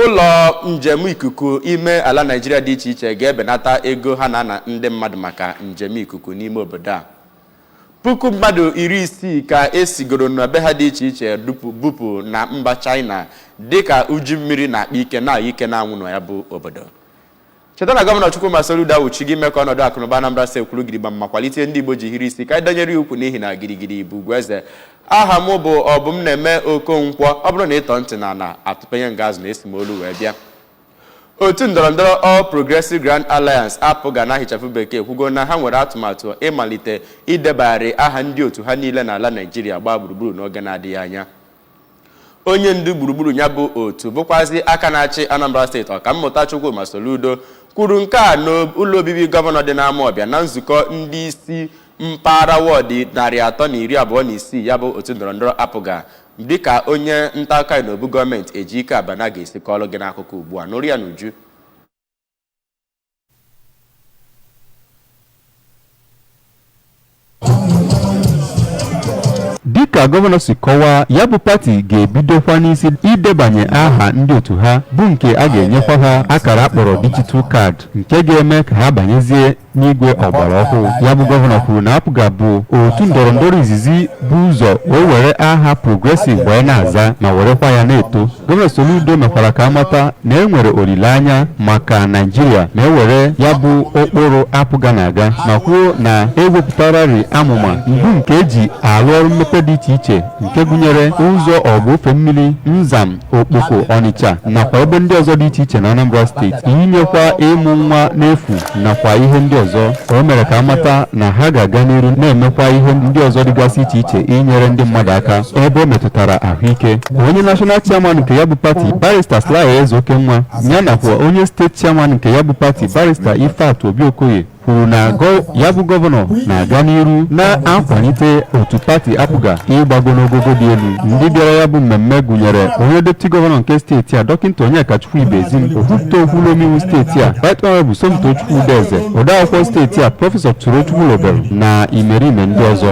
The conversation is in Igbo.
Ụlọ njem ikuku ime ala Naịjirịa dị iche iche ga-ebenata ego ha na-ana ndị mmadụ maka njem ikuku n'ime obodo a. Puku mmadụ iri isii ka e sigoro na be ha dị iche iche bupụ na mba Chaịna dịka uju mmiri na-akpa ike na ike n'anwụ na ya bụ obodo. cheta na gọvanọ Chukwuma Soludo awụchigo ime ka ọnọdụ akụnụba Anambra steeti kwụrụ gidigba ma kwalite ihe ndị Igbo ji hiri isi ka anyị danyere ya ukwu n'ihi na girigiri bụ ugwu eze aha m bụ Ọbụmnaeme Okonkwo ọ bụrụ na ị tọ ntị n'ala atụpenye nga azụ na esi m olu wee bịa otu ndọrọndọrọ All Progressive Grand Alliance APGA n'aha ịchafụ bekee ekwugo na ha nwere atụmatụ ịmalite idebagharị aha ndị otu ha niile n'ala Naijiria gbaa gburugburu n'oge na-adịghị anya onye ndu gburugburu ya bụ otu bụkwazi aka na-achị Anambra steeti Ọkammụta Chukwuma Soludo kwuru nke a n'ụlọ obibi gọvanọ dị n'Amawbịa na nzukọ ndị isi mpaghara wọdụ narị atọ na iri abụọ na isii ya bụ otu ndọrọndọrọ APGA dịka onye nta akụkọ anyị n'obu gọọmenti Ejike Abana ga-esi kọọlụ gị n'akụkọ ugbu a nụrụ ya n'uju dịka gọvanọ si kọwaa ya bụ pati ga-ebidokwa n'isi idebanye aha ndị otu ha bụ nke a ga-enyekwa ha akara a kpọrọ digital card nke ga-eme ka ha banyezie n'igwe ọgbara ọhụụ ya bụ gọvanọ kwuru na APGA bụ otu ndọrọndọrọ izizi bu ụzọ wee were aha progressive wee na-aza ma werekwa ya na-eto gọvanọ soludo mekwara ka a mata na e nwere olileanya maka naijiria ma e were ya bụ ụkpụrụ APGA na-aga ma kwuo na e wepụtararị amụma bụ nke e ji arụ ọrụ mmepe dị iche iche nke gụnyere ụzọ ọgụ ofe mmiri Nzam Okpoko, Ọnịcha nakwa ebe ndị ọzọ dị iche iche na Anambra steeti inyekwa ịmụ nwa n'efu nakwa ihe ndị ọzọ o mere ka a mata na ha ga-aga n'iru na-emekwa ihe ndị ọzọ dịgasị iche iche inyere ndị mmadụ aka ebe o metụtara ahụike onye national chairman nke ya bụ pati barista Sly Ezeokenwa ya nakwa onye steeti chairman nke ya bụ pati barista Ifeatụ Obi Okoye kwuru na gọ- ya bụ gọvanọ na-aga n'iru na-akwalite otu pati APGA ịgbago n'ogogo dị elu ndị bịara ya bụ mmemme gụnyere onye depụti gọvanọ nke steeti a dọkịta Onyekachukwu Ibezim okwupụta okwu ụlọ omeiwu steeti a right honorable Somtochukwu Udeze odeakwụkwọ steeti a prọfesọ Solo Chukwulobelu na imerime ndị ọzọ